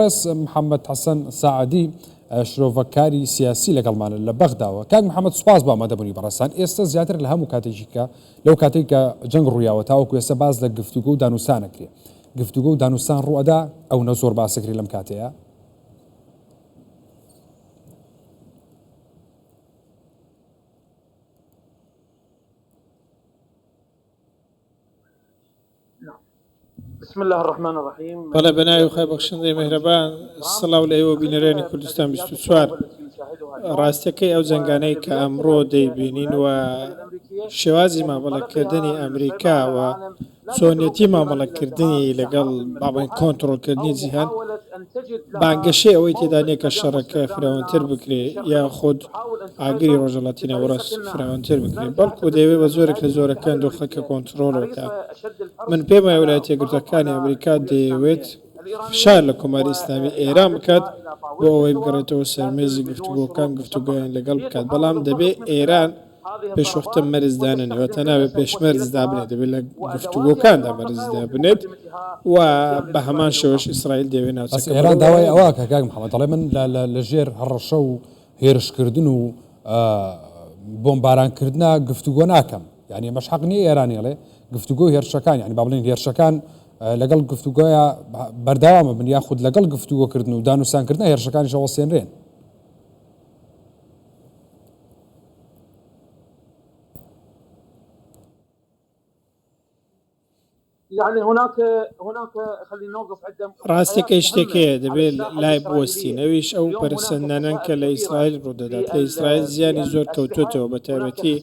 سپاس محمد حسن ساعدی شرۆڤەکاری سیاسی لەگەڵمانە لە بەغداوە کاک محمد سپاس بۆ ئامادەبوونی بەڕێزتان ئێستا زیاتر لە هەموو کاتێکیکە لەو کاتێک کە جەنگ ڕوویاوە تاوەکو ئێستا باس لە گفتوگە و دانوسانەکرێ گفتوگە و دانوسان ڕوەدا ئەو نە زۆر باسەکری لەم کاتەیە بسم اللە الرحمن الرحیم بەڵێ بە ناوی خۆی بەخشندەی مهرەبان سڵاو لە ئێوە بینەرانی کوردستان بیست و چوار ڕاستەکەی ئەو جەنگانەی کە ئەمڕۆ دەیبینین و شێوازی مامەڵەکردنی ئەمریکا و چۆنیەتی مامەڵەکردنی لەگەڵ بابن کۆنتترۆلکردنی جیهان بانگەشەی ئەوەی تێدا نییە کە شەڕەکە فراوانتر بکرێت یاخود ئاگری ڕۆژهەڵاتی ناوەڕاست فراوانتر بکرێت، بەڵکو دەیەوێت بە جۆرێک لە جۆرەکان دۆخەکە کۆنتڕۆڵ بکات. من پێم وایە ولایەتە یەکگرتووەکانی ئەمریکا دەیەوێت فشار لە کۆماری ئیسلامی ئێران بکات بۆ ئەوەی بگەڕێتەوە سەر مێزی گفتوگۆکان گفتوگۆیان لەگەڵ بکات، بەڵام دەبێت ئێران پێشوەختە مەرز دانەنێ واتە نابێت پێش مەرز دابنێت دەبێت لە گفتوگۆکاندا مەرز دابنێت و بە هەمان شێوەش ئیسرائیل دەوێت ناوچەکە ئەس ئێران داوای ئەوە کە کاک محەممەد دەڵێ من لە- لە- لە ژێر هەڕەشە و هێرشکردن و ئا، بۆمبارانکردنا گفتوگۆ ناکەم یانی ئەمەش حەق نییە ئێران ئێڵێ گفتوگۆ و هێرشەکان یانی با بڵێین هێرشەکان ئا، لەگەڵ گفتوگۆیە بە- بەردەوام ببن یا خود لەگەڵ گفتوگۆکردن و دانوسانکردنا هێرشەکانیش ئەوەسێنرێن. ڕاستەکەی شتێک هەیە دەبێت لای بوەستین ئەویش ئەو پەرەسەندنانەن کە لە ئیسرائیل ڕوودەدات لە ئیسرائیل زیانی زۆر کەوتووەتەوە بە تایبەتی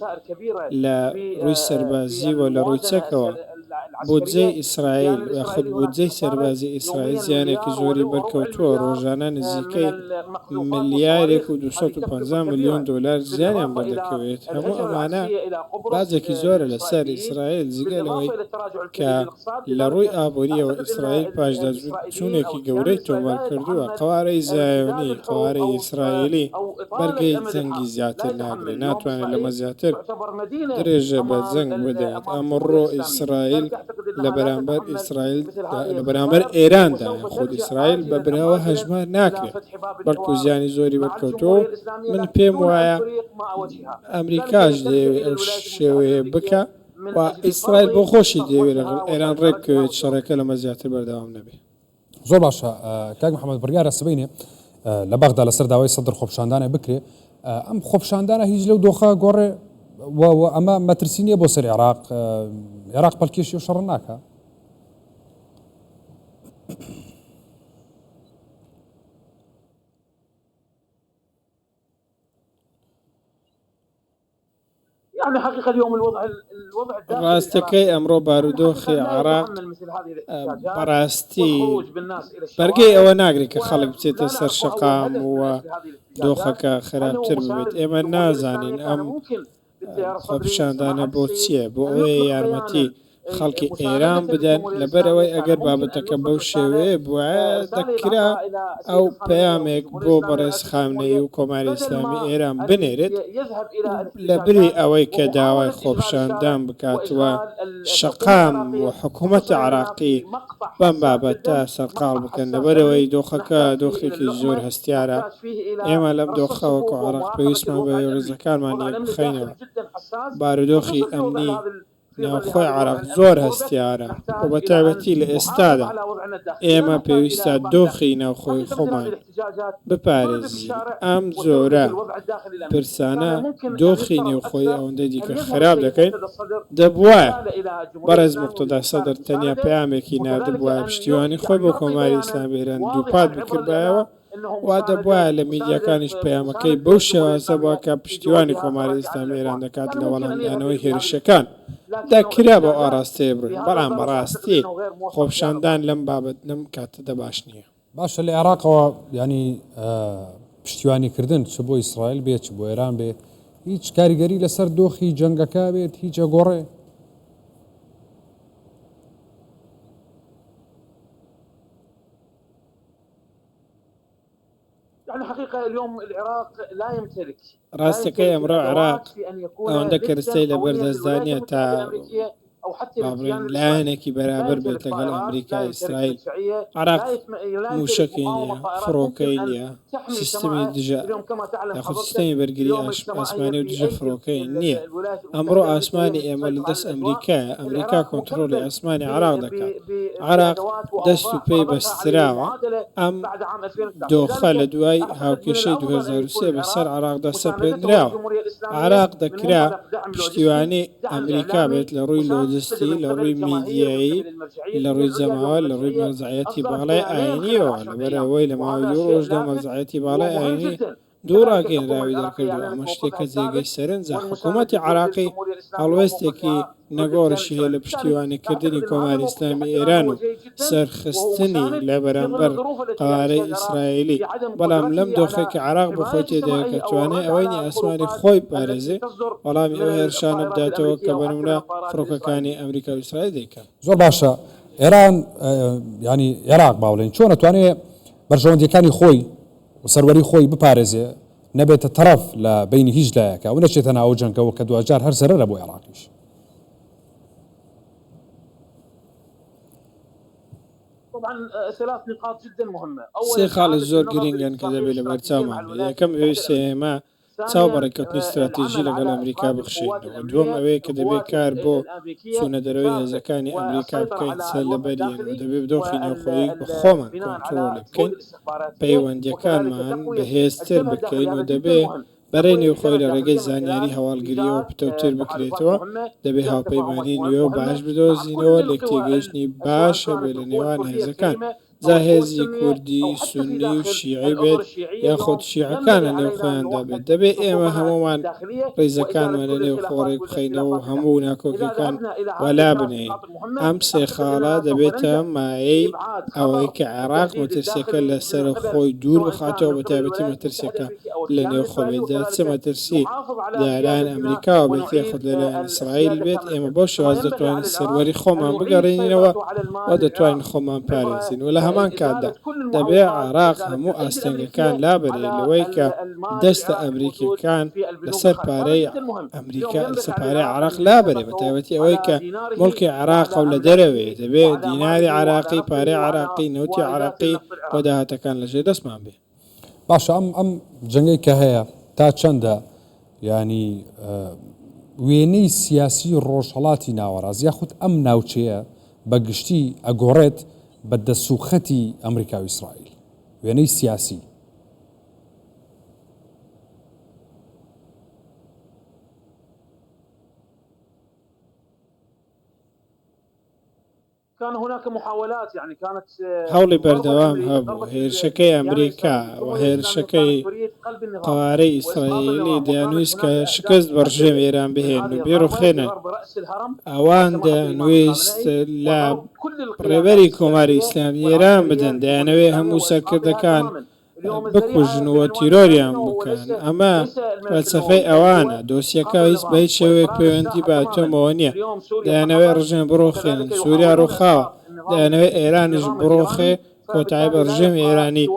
لە ڕووی سەربازییەوە لە ڕووی چەکەوە بودجەی ئیسرائیل، یاخود بودجەی سەربازی ئیسرائیل زیانێکی زۆری بەرکەوتووە، رۆژانە نزیکەی ملیارێک و دوو سەد و پەنجا ملیۆن دۆلار زیانیان بەردەکەوێت، هەموو ئەمانە باجێکی زۆرە لەسەر ئیسرائیل، جگە لەوەی کە لەڕووی ئابوورییەوە ئیسرائیل پاشداچووترە. بۆچوونێکی گەورەی تۆمار کردووە، قەوارەی زایۆنی، قەوارەی ئیسرائیلی بەرگەی جەنگی زیاتر ناگرێت، ناتوانێت لەمە زیاتر درێژە بە جەنگ بدات، ئەمڕۆ ئیسرائیل لە بەرامبەر ئیسرائیل لە بەرامبەر ئێراندایە، خود ئیسرائیل بە براوە هەژمار ناکرێت، بەڵکو زیانی زۆری بەرکەوتووە و من پێم وایە ئەمریکاش دەیەوێت ئەو شێوەیە بکات. و ئیسرائیل بۆ خۆشی دەیەوێت لەگەڵ ئێران ڕێک بکەوێت شەڕێکە لەمە زیاتر بەردەوام نەبێت. زۆر باشە کاک محمد بڕیارە سبەینێ لە بەغدا لەسەر داوای سەدر خۆپشاندانێ بکرێ ئەم خۆپشاندانە هیچ لەو دۆخە گۆڕێ و ئەمە مەترسی نییە بۆ سەر عێراق عێراق پەلکێشی و شەڕ ناکە ڕاستەکەی ئەمڕۆ بارودۆخی عێراق بەڕاستی بەرگەی ئەوە ناگری کە خەڵک بچێتە سەر شەقام و دۆخەکە خراپتر بێت ئێمە نازانین ئەم خۆپیشاندانە بۆ چییە بۆ ئەوەیە یارمەتی خەڵکی ئێران بدەن لەبەرئەوەی ئەگەر بابەتەکە بەو شێوەیە بوایە دەکرا ئەو پەیامێک بۆ بەڕێز خامنەیی و کۆماری ئیسلامی ئێران بنێرێت لەبری ئەوەی کە داوای خۆپیشاندان بکات و شەقام و حکوومەتی عێراقی بەم بابەتە سەرقاڵ بکەن لەبەرئەوەی دۆخەکە دۆخێکی زۆر هەستیارە ئێمە لەم دۆخە وەکو عێراق پێویستمان بە ڕیزەکانمان یەک بخەینەوە بارودۆخی ئەمنی ناوخۆی عەرەب زۆر هەستیارە و بە تایبەتی لە ئێستادا ئێمە پێویستە دۆخی ناوخۆی خۆمان بپارێزین، ئەم جۆرە پرسانە دۆخی نێوخۆی ئەوەندە دیکە خراپ دەکەین، دەبوایە بەڕێز موقتەدا سەدر تەنیا پەیامێکی ناردبوایە پشتیوانی خۆی بۆ کۆماری ئیسلامی ئێران دووپات بکردبایەوە، وا دەبوایە لە میدیاکانیش پەیامەکەی بەو شێوازە بوا کە پشتیوانی کۆماری ئیسلامی ئێران دەکات لە وەڵامدانەوەی هێرشەکان دا کرا بەو ئاڕاستەیە بڕۆین، بەڵام بە ڕاستی خۆپشاندان لەم بابەت لەم کاتەدا باش نییە. باشە لە عێراقەوە یانی پشتیوانی کردن چ بۆ ئیسرائیل بێ چ بۆ ئێران بێ هیچ کاریگەری لەسەر دۆخی جەنگەکە بێت هیچ ئەگۆڕێ؟ ڕاستەکەی ئەمڕۆ عێراق ئەوەندە کەرستەی لەبەردەستدانە تا بڵێن لایەنێکی بەرابەر بێت لەگەڵ ئەمریکا ئیسرائیل عراق موشەکی نیە فڕۆکەی نیە سیستمی دژە یاخود سیستمی بەرگری ئاسمانی و دژە فڕۆکەی نییە ئەمڕۆ ئاسمانی ئێمە لە دەست ئەمریکایە ئەمریکا کۆنتترۆلی ئاسمانی عراق دەکات عێراق دەست و پێی بەستراوە، ئەم دۆخە لە دوای هاوکێشەی دوو هەزار و سێ بەسەر عێراقدا سەپێندراوە. عێراق دەکرا پشتیوانی ئەمریکا بێت لە ڕووی لۆجستی، لە ڕووی میدیایی، لە ڕووی جەماوەر، لە ڕووی مەرجەعیەتی باڵای ئایینییەوە، لەبەر ئەوەی لە ماوەی دوو ڕۆژدا مەرجەعیەتی باڵای ئایینی، دوو ڕاگەیەنراوی دەرکردووە، ئەمە شتێکە جێگەی سەرنجە، حکوومەتی عێراقی هەڵوێستێکی نەگۆڕیشی هەیە لە پشتیوانیکردنی کۆماری ئیسلامیی ئێران و سەرخستنی لە بەرامبەر قەوارەی ئیسرائیلی، بەڵام لەم دۆخەی کە عێراق بۆ خۆی تێدایە کە توانای ئەوەی نییە ئاسمانی خۆی بپارێزێ وەڵامی ئەو هێرشانە بداتەوە کە بە نموونە فڕۆکەکانی ئەمریکا و ئیسرائیل دەیکەن. زۆر باشە ئێران، یانی عێراق با بڵێین، چۆن ئەتوانێ بەرژەوەندییەکانی خۆی، و سەروەری خۆی بپارێزێ، نەبێتە تەڕەف لە بەینی هیچ لایەکا و نەچێتە ناو ئەو جەنگەوە کە دواجار هەر زەرەرە بۆ ئێڕاقیش. سێ خاڵی زۆر گرینگن کە دەبێ لەبەرچاومان بێ، یەکەم ئەوەی سێ ئێمە، چاو بە ڕێککەوتنی ستراتیژی لەگەڵ ئەمریکا بخشێنەوە، دووەم ئەوەیە کە دەبێت کار بۆ چوونە دەرەوەی هێزەکانی ئەمریکا بکەین سەر لەبەریەن و دەبێت دۆخی نێوخۆیی بە خۆمان کۆنترۆڵی بکەین، پەیوەندییەکانمان بەهێزتر بکەین و دەبێت بەرەی نێوخۆیی لە ڕێگەی زانیاری هەواڵگرییەوە پتەوتر بکرێتەوە، دەبێت هاوپەیمانی نوێ و باش بدۆزینەوە، لێکتێگەیشتنی باش هەبێت لە نێوان هێزەکان. جا هێزی کوردی سوننی و شیعی بێت یاخود شیعەکان لە نێو خۆیاندا بێت دەبێت ئێمە هەموومان ڕیزەکانمان لە نێو خۆ ڕێک بخەینەوە و هەموو ناکۆکیەکان وەلا بنێین ئەم سێ خاڵە دەبێتە مایەی ئەوەی کە عێراق مەترسیەکە لە سەر خۆی دوور بخاتەوە بە تایبەتی مەترسیەکە لە نێوخۆێدا چ مەترسی لەلایەن ئەمریکاوە بێت یاخود لەلایەن ئیسرائیل بێت ئێمە بەو شێوازە دەتوانین سەروەری خۆمان بگەڕێنینەوە و دەتوانین خۆمان پارێزین و لە هەمان کاتدا دەبێ عێراق هەموو ئاستەنگەکان لابەرێ لەوەی کە دەستە ئەمریکیەکان لەسەر پارەی ئەمریکا لەسەر پارەی عێراق لابەرێ بە تایبەتی ئەوەی کە مڵکی عێراق و لە دەرەوەی دەبێ دیناری عراقی پارەی عراقی نەوتی عراقی بۆ داهاتەکان لەژێر دەستمان بێ باشە ئەم ئەم جەنگەی کە هەیە تا چەندە یانی وێنەی سیاسی ڕۆژهەڵاتی ناوەڕاز یاخود ئەم ناوچەیە بە گشتی ئەگۆڕێت بە دەسوخەتی ئەمریکا و ئیسرائیل وێنەی سیاسی هەوڵی بەردەوام هەبوو هێرشەکەی ئەمریکا و هێرشەکەی قەوارەی ئیسرائیلی دەیانویست کە شکست بە ڕژێمی ئێران بهێنن و بیڕوخێنن. ئەوان دەیانویست لە ڕێبەری کۆماری ئیسلامی ئێران بدەن، دەیانەوێت هەموو سەرکردەکان بکوژن و تیرۆریان بکەن ئەمە فەلسەفەی ئەوانە دۆسیەکە هیچ بە هیچ شێوەیەک پەیوەندی بە ئەتۆمەوە نییە دەیانەوەی ڕژێم بڕۆخێنن سووریا ڕووخاوە دەیانەوەی ئێرانیش بڕۆخێ کۆتایی بە ڕژێمی ئێرانی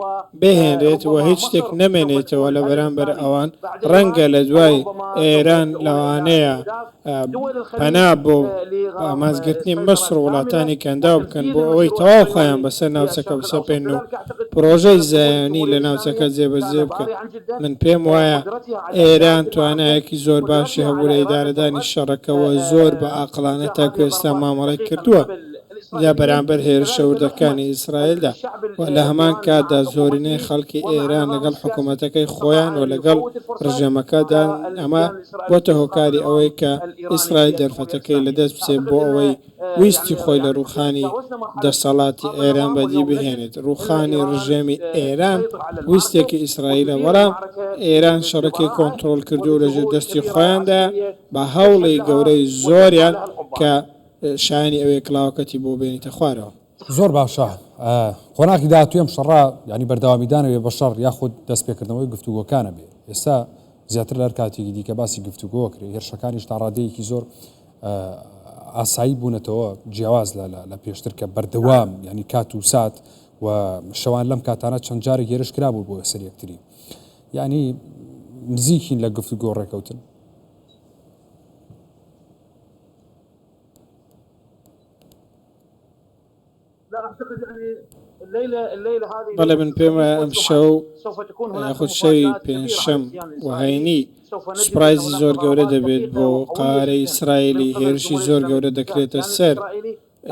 بهێنرێت و هیچ شتێک نەمێنێتەوە لە بەرامبەر ئەوان ڕەنگە لە دوای ئێران لەوانەیە پەنا بۆ ئامانجگرتنی میسر و وڵاتانی کەنداو بکەن بۆ ئەوەی تەواو خۆیان بەسەر ناوچەکە بسەپێنن و پڕۆژەی زایۆنی لە ناوچەکە جێبەجێ بکەن، من پێم وایە ئێران توانایەکی زۆر باشی هەبوو لە ئیدارەدانی شەڕەکە و زۆر بە ئاقڵانە تاکو ئێستا مامەڵەی کردووە. لە بەرامبەر هێرشە وردەکانی ئیسرائیلدا و لە هەمان کاتدا زۆرینەی خەڵکی ئێران لەگەڵ حکومەتەکەی خۆیان و لەگەڵ ڕژێمەکەدان، ئەمە بۆتە هۆکاری ئەوەی کە ئیسرائیل دەرفەتەکەی لەدەست بچێت بۆ ئەوەی ویستی خۆی لە ڕووخانی دەسەڵاتی ئێران بەدی بهێنێت. ڕووخانی ڕژێمی ئێران ویستێکی ئیسرائیلە، بەڵام ئێران شەڕەکەی کۆنترۆڵکردوو لە ژێر دەستی خۆیاندایە بە هەوڵی گەورەی زۆریان کە شایەنی ئەوەیە کڵاوەکەتی بۆ بێنیتە خوارەوە. زۆر باشە قۆناغی داهاتوی ئەم شەڕە یانی بەردەوامیدانەوەیە بە شەڕ یاخود دەستپێکردنەوەی گفتوگۆکانە بێ ئێستا زیاتر لە هەر کاتێکی دیکە باسی گفتوگۆ کرێ هێرشەکانیش تا ڕادەیەکی زۆر ئاسایی بوونەتەوە جیاواز لە پێشتر کە بەردەوام ینی کات و سات و شەوان لەم کاتانە چەند جارێک هێرش کرابوو بۆ سەر یەکتری ینی نزیکین لە گفتوگۆ ڕێکەوتن بەڵێ من پێم وایە ئەم شەو یاخود شەوی پێنجشەم و هەینی سوپرایزی زۆر گەورە دەبێت بۆ قارەی ئیسرائیلی هێرشی زۆر گەورە دەکرێتە سەر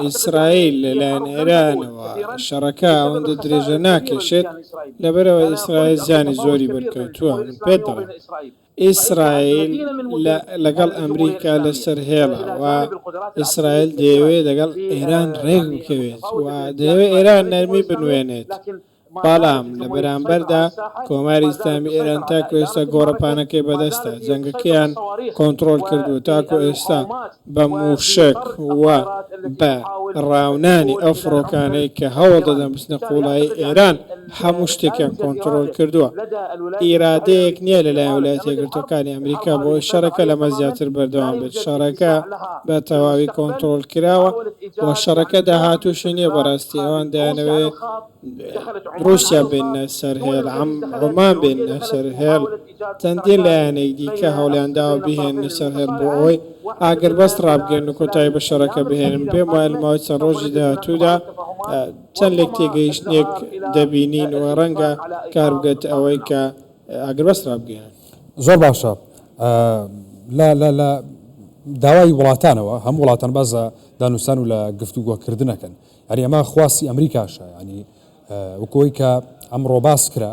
ئیسرائیل لەلایەن ئێرانەوە شەڕەکە ئەوەندە درێژە ناکێشێت لەبەرەوە ئیسرائیل زیانی زۆری بەرکەوتووە من پێت دەڵێم ئیسرائیل لەگەڵ ئەمریکا لەسەر هێڵە و ئیسرائیل دەیەوێت لەگەڵ ئێران ڕێک بکەوێت و دەیەوێت ئێران نەرمی بنوێنێت، بەڵام لە بەرامبەردا کۆماری ئیسلامی ئێران تاکو ئێستا گۆڕەپانەکەی بەدەستە، جەنگەکەیان کۆنتڕۆڵ کردووە تاکو ئێستا. بە مووشەک و بە ڕاونانی ئەو فڕۆکانەی کە هەوڵ دەدەن بچنە قووڵایی ئێران، هەموو شتێکیان کۆنترۆڵ کردووە. ئیرادەیەک نییە لە لایەن ولایەتە یەکگرتووەکانی ئەمریکا بۆ ئەوەی شەڕەکە لەمە زیاتر بەردەوام بێت. شەڕەکە بە تەواوی کۆنترۆڵ کراوە و شەڕەکە داهاتووشی نییە بە ڕاستی ئەوان دەیانەوێت ڕووسیا بێننە سەر هێڵ، عەمان بێننە سەر هێڵ. چەندین لایەنی دیکە هەوڵیان داوە بیهێننە سەر هێڵ بۆ ئەوەی ئاگربەست ڕابگرن و کۆتایی بە شەڕەکە بهێنن، پێم وایە لە ماوەی چەند ڕۆژی داهاتوودا چەند لێکتێگەیشتنێک دەبینین و ڕەنگە کار بگاتە ئەوەی کە ئاگربەست ڕابگەیەنن. زۆر باشە لە لە لە داوای وڵاتانەوە هەموو وڵاتان باس لە دانوستان و لە گفتوگۆکردنەکەن یانی ئەمە خواستی ئەمریکاشە یانی وەکۆی کە ئەمڕۆ باس کرا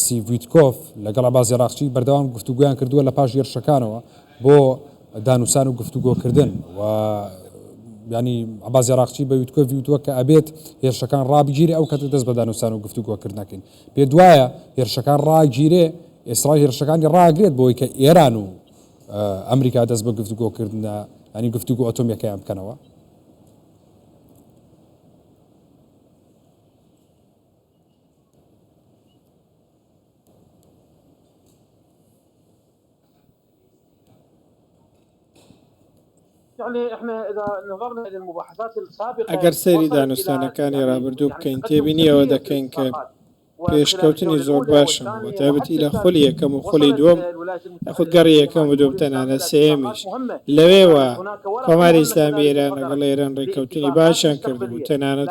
ستیڤ ویتکۆف لەگەڵ عەباس یەراقچی بەردەوام گفتوگۆیان کردووە لە پاش هێرشەکانەوە بۆ دانوسان و گفتوگۆکردن و ینی عباز عراقچی بە ویتکۆڤی وتووە کە ئەبێت هێرشەکان ڕابگیری ئەو کەتە دەست بە دانوسان و گفتوگۆکردنەکەین پێ دوایە هێرشەکان ڕاگیرێ ئێسرائیل هێرشەکانی ڕاگرێت بۆی کە ئێران و ئەمریکا دەست بە گفتوگۆکردە ئەنی گفتوگو ئۆتۆمیەکەیان بکەنەوە ئەگەر سەیری دانوستانەکانی ڕابردوو بکەین تێبینی ئەوە دەکەین کە پێشکەوتنی زۆر باشە بەتابەتی لە خولی یەکەم و خولی دووەم یاخود گەڕی یەکەم و دووەم تەنانە سێیەمیش لەوێوە کۆماری ئیسلامی ئێران لەگەڵ ئێران ڕێککەوتنی باشیان کردبوو تەنانەت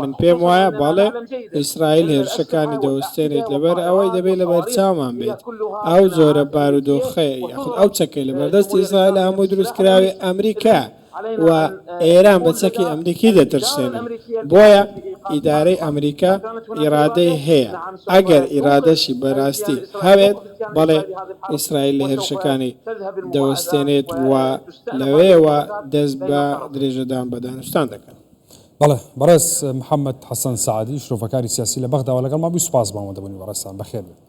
من پێم وایە بەڵێ ئیسرائیل هێرشەکانی دەوەستێنێت لەبەر ئەوەی دەبێت لە بەرچاومان بێت ئەو زۆرە بارودۆخەیە یاخود ئەو چەکەی لە بەردەست ئیسرائیل هەموو دروستکراوی ئەمریکا و ئێران بە چەکی ئەمریکی دەترسێن بۆیە ئیدارەی ئەمریکا ئیرادەی هەیە ئەگەر ئیرادەشی بەراستی هەوێت بەڵێ ئیسرائیل لە هێرشەکانی دەوەستێنێت و لەوەیەوە دەست بە درێژەدان بە دانوستان دەکەن. بەڵێ بەڕێز محمد حسن سعدی شرۆڤەکاری سیاسی لە بەغداوە لەگەڵمان بووی سوپاس بۆ ئەوەندە بوونی بەڕێزتان بەخێر بێت.